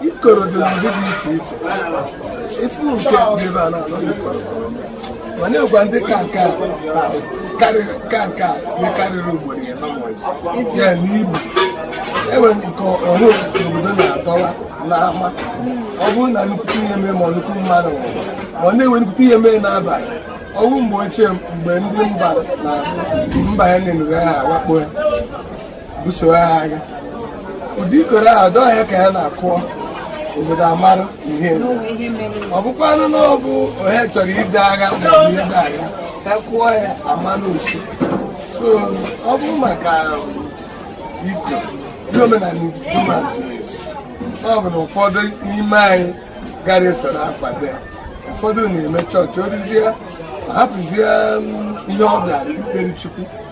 ikoro dị n'ụdị dị iche iche ị fụ nke dị ebe a na-anọ ikoro mana e nwekwa ndị ka nke a na karịrị ka nke a ihe karịrị ugboro ya ya n'ibu e nwee nke ahụ nke obodo na-adọwa n'ama ọ bụrụ na nnukwu ihe mee ma nnukwu mmadụ nwụrụ maọbụ na e nwee nnukwu ihe mee n'abalị ọ bụ mgbe ochie mgbe ndị mba na mba ya na-enughe ha awakpo ya buso ha agha ụdị ikoro ahụ dọọ ya ka ya na-akụọ obodo amara ihe ọ bụkwanụ na ọ bụ ọha chọrọ ije agha maọbụ ide agha a kụọ ya amara ọsịịsọ ọ bụ maka iko ndị omenala ọ bụ na ụfọdụ n'ime anyị gara esoro akwado ya ụfọdụ na-eme chọọchị orizie hapụzie ihe ọ bịara ikpere chukwu